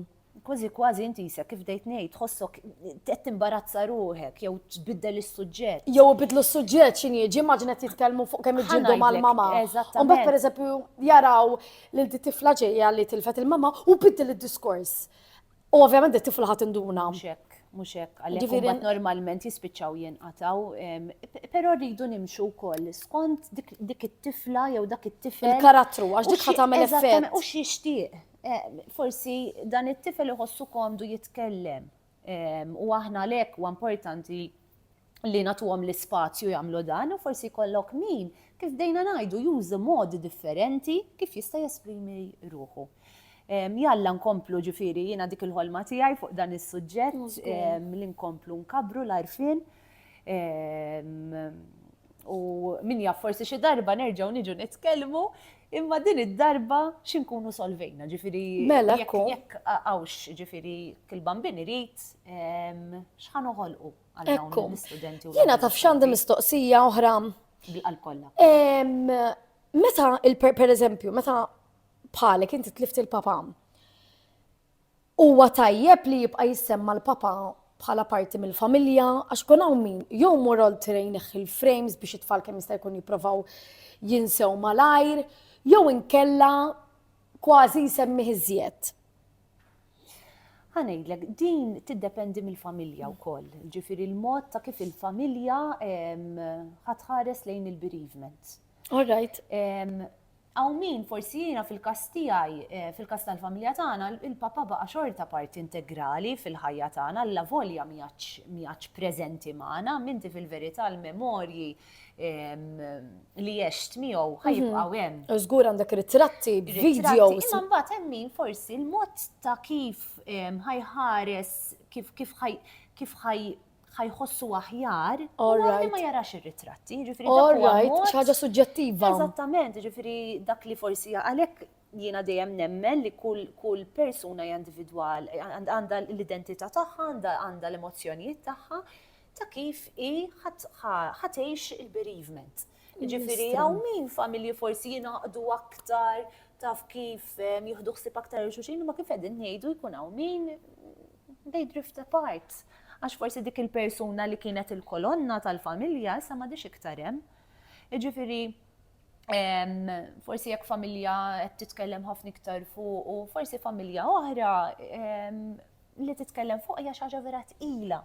Kważi kważi inti jisek kif dejt ngħid tħossok qed timbarazza ruħek jew tbiddel is-suġġett. Jew ibidlu s-suġġett x'in jiġi immaġina titkellmu fuq kemm iġġildu mal-mama. U mbagħad pereżempju jaraw lil di tifla ġejja li tilfet il-mama u biddel id-diskors. U ovvjament di tifla ħadd induna. Xek, mhux hekk, għalhekk normalment jispiċċaw jinqataw, però rridu nimxu wkoll skont dik it-tifla jew dak it-tifel. Il-karattru għax dik ħadd tagħmel effett. U x'jixtieq. Forsi dan it-tifel iħossu komdu jitkellem u aħna għalhekk huwa importanti li nagħtuhom l-ispazju jagħmlu dan u forsi jkollok min, kif bdejna ngħidu, juża modi differenti kif jista' jesprimi ruħu. Jalla nkomplu ġifieri jiena dik il-ħolma tiegħi fuq dan is-suġġett li nkomplu nkabbru l-għarfien U min jaf forsi xi darba nerġgħu niġu nitkellmu imma din id-darba xinkunu solvejna, ġifiri. Mela, kun. Jekk għawx, ġifiri, kil-bambin irrit, xħan uħolqu għal-dawn l-studenti. Jena taf xandi mistoqsija oħra. Bil-qalkolla. Meta, per eżempju, meta bħalek inti tlift il-papa, Huwa tajjeb li jibqa' jissemma l-Papa bħala parti mill-familja għax ikun hawn min jew imur oltre jneħħi l-frames biex it-tfal kemm jista' jkun jipprovaw jinsew malajr jew inkella kważi jsemmih iżjed. Ħa ngħidlek, din tiddependi mill-familja wkoll, jiġifieri l-mod ta' kif il-familja ħa tħares lejn il-bereavement. All right. Hawn min, forsi jiena fil-każ tiegħi, fil-każ tal-familja tagħna, il-papà baqa' xorta parti integrali fil-ħajja tagħna allavolja m'iegħedx m'iegħedx preżenti magħna, minti fil-verità l-memorji li għext miegħu ħa jibqgħu hemm. U żgur għandek ritratti, videos. Imma mbagħad hemm min forsi l-mod ta' kif ħa jħares, kif kif ħa kif ħa ħajħossu aħjar u li ma jarax ir-ritratti. All right, ħaġa suġġettiva. Eżattament, ġifiri dak li forsi għalek jiena dejjem nemmen li kull persuna individwal għandha l-identità tagħha, għandha l-emozzjonijiet tagħha ta' kif i ħatejx il-bereavement. Ġifiri, għaw min familji forsi jinaqdu aktar taf kif jihdu xsib aktar il-xuxin, ma kif edin nejdu jkun għaw min they drift apart. Għax forsi dik il-persuna li kienet il-kolonna tal-familja issa ma dix iktar hemm. Jiġifieri forsi jekk familja qed titkellem ħafna iktar fuq u forsi familja oħra li titkellem fuq hija xi ħaġa vera tqila.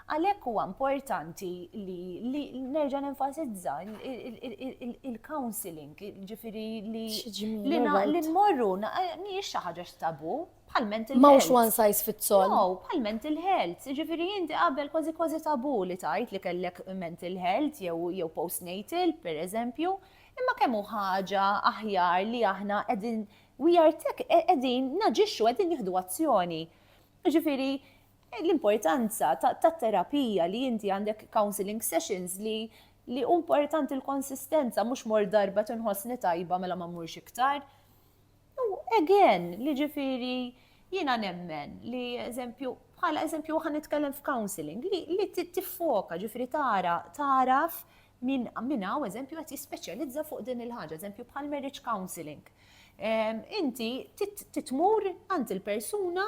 Għalhekk huwa importanti li nerġa' nenfasizza il-counseling, ġifieri li li nmorru mhijiex xi ħaġa x'tabu, bħal mental health. Mawx one size fits all. No, bħal mental health. Ġifiri jinti qabel kważi kważi tabu li tajt li kellek mental health jew jew postnatal, per eżempju, imma kemm hu ħaġa aħjar li aħna qegħdin we are tech e-, qegħdin naġixxu qegħdin nieħdu azzjoni. Ġifiri, l-importanza ta' terapija li inti għandek counseling sessions li li importanti l-konsistenza mhux mor darba tinħossni tajba mela ma mmurx iktar. U again, li ġifiri jina nemmen li eżempju, bħala eżempju għan nitkellem f'counseling, li, li tiffoka ġifiri tara, taraf minn min għaw eżempju għat jispeċjalizza fuq din il-ħagġa, eżempju bħal marriage counseling. Ehm, inti titmur għant il-persuna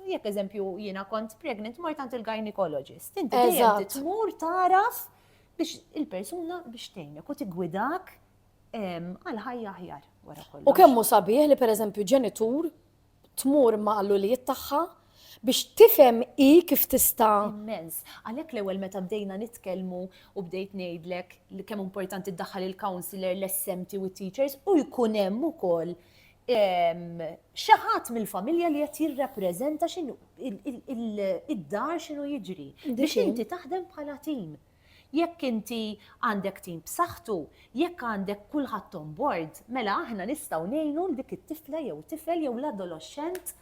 jekk eżempju jina kont pregnant mort għant il-gynecologist. Inti dejjem titmur taraf biex il-persuna biex tgħinek u tigwidak għal ħajja aħjar wara kollox. U kemm hu sabiħ li pereżempju ġenitur tmur ma' l-ulijiet tagħha biex tifhem i kif tista' immens. Għalhekk l-ewwel meta bdejna nitkellmu u bdejt ngħidlek li kemm importanti ddaħħal il-counselor, l-SMT u t-teachers u jkun hemm ukoll xi ħadd mill-familja li qed jirrappreżenta x'inhu id-dar x'inhu jiġri biex inti taħdem bħala tim. Jekk inti għandek tim b'saħħtu, jekk għandek kulħadd on board, mela aħna nistgħu ngħinu 'l dik it-tifla jew tifel jew l-adoloxxent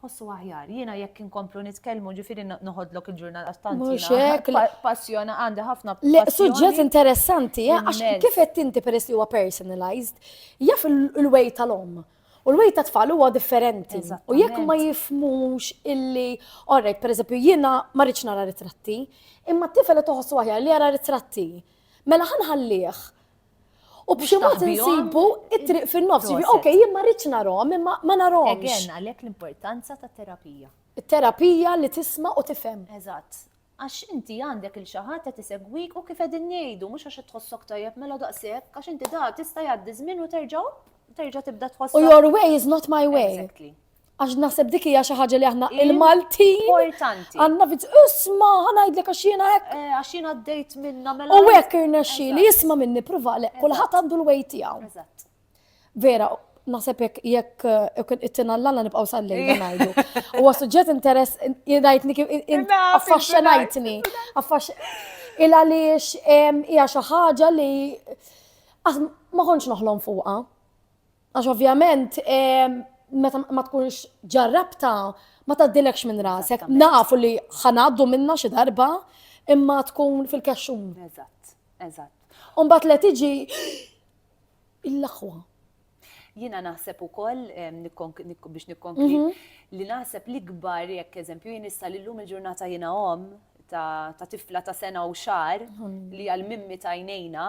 ħossu aħjar. Jiena jekk inkomplu nitkellmu ġifieri noħodlok il-ġurnal tant jiena passjona għandi ħafna Le, suġġett interessanti, eh, għax kif qed inti peress li huwa personalized, jaf il-way tal-om. U l-wejt ta' tfal huwa differenti. U jekk ma jifmux illi, orrejt, per eżempju, jiena ma rridx nara ritratti, imma t-tifel toħossu aħjar li jara ritratti. Mela ħanħallih. U b'xi mod insibu it-triq fin-nofs. Ok, jien ma rridx narhom, imma ma narhom. Again, għalhekk l-importanza ta' terapija. Terapija li tisma' u tifhem. Eżatt. Għax inti għandek 'il xi ħadd qed isegwik u kif qegħdin ngħidu mhux għax qed tħossok tajjeb mela daqshekk għax inti da tista' jgħaddi ż-żmien u terġa' opp terġa' tibda tħossok. U your way is not my way. Exactly. Għax naħseb dik hija xi ħaġa li aħna il-Maltin. Importanti. Għandna viz, isma' ħanajdlek għax jiena hekk. Eh, għax jiena għaddejt minna mela. U hekk irnexxi li jisma' minni pruva le kulħadd għandu l-way tiegħu. Eżatt. Vera, naħseb jekk jekk it-tina l-għalla nibqaw sal-lejla eh. najdu. U suġġett interess, jidajtni kif, affaxxenajtni. Il għaliex hija xi ħaġa li ma konċ noħlom fuqa. Għax ovvjament meta ma tkunx ġarrabta ma taddilekx minn rasek. Nafu li ħanaddu minna xi darba imma tkun fil-kaxxun. Eżatt, eżatt. Umbat li tiġi l-aħwa. Jiena naħseb ukoll biex nikkonkli mhm. li naħseb li kbar jekk eżempju jien issa li llum il-ġurnata jiena om ta' tifla ta' sena u xar li għal mimmi tajnejna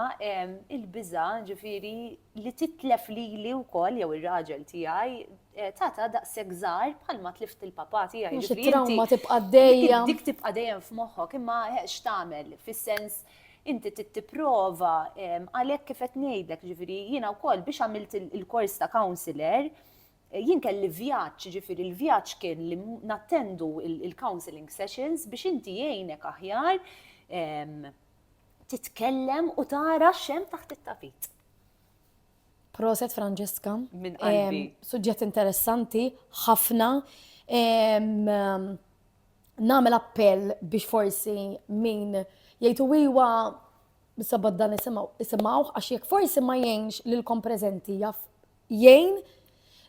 il-biża ġifiri li titlef li li u koll jew il-raġel tijaj eh, tata da' segżar bħalma tlift il-papa tijaj. Trauma tibqa dejjem. Dik tibqa dejjem f'moħħok imma eh, x'tamel fis-sens Inti trid tipprova għalhekk kif qed ngħidlek, jiġifieri jiena wkoll biex għamilt il-kors ta' counsellor, jien kelli vjaġġ, jiġifieri l-vjaġġ kien li nattendu il-counselling sessions biex inti jgħinek aħjar titkellem u tara x'hemm taħt it-tapit. Proset Franġeska. Minn qalbi. Suġġett interessanti, ħafna. nagħmel appell biex forsi min jgħidu iwa sabad dan isimgħu isimgħuh għax jekk forsi ma jgħinx lilkom preżenti jaf jgħin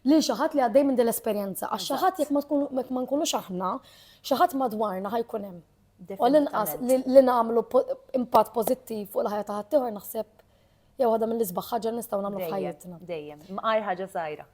lil xi ħadd li għaddej minn din l-esperjenza għax xi ħadd jekk ma tkun jekk ma nkunux aħna xi ħadd madwarna ħajkun hemm. U l-inqas li li nagħmlu po- impatt pożittiv fuq il-ħajja ta' ħaddieħor naħseb jew waħda mill-isbaħ ħaġa li nistgħu nagħmlu Dejjem, f'ħajjitna. Dejjem. Mqar ħaġa sajra.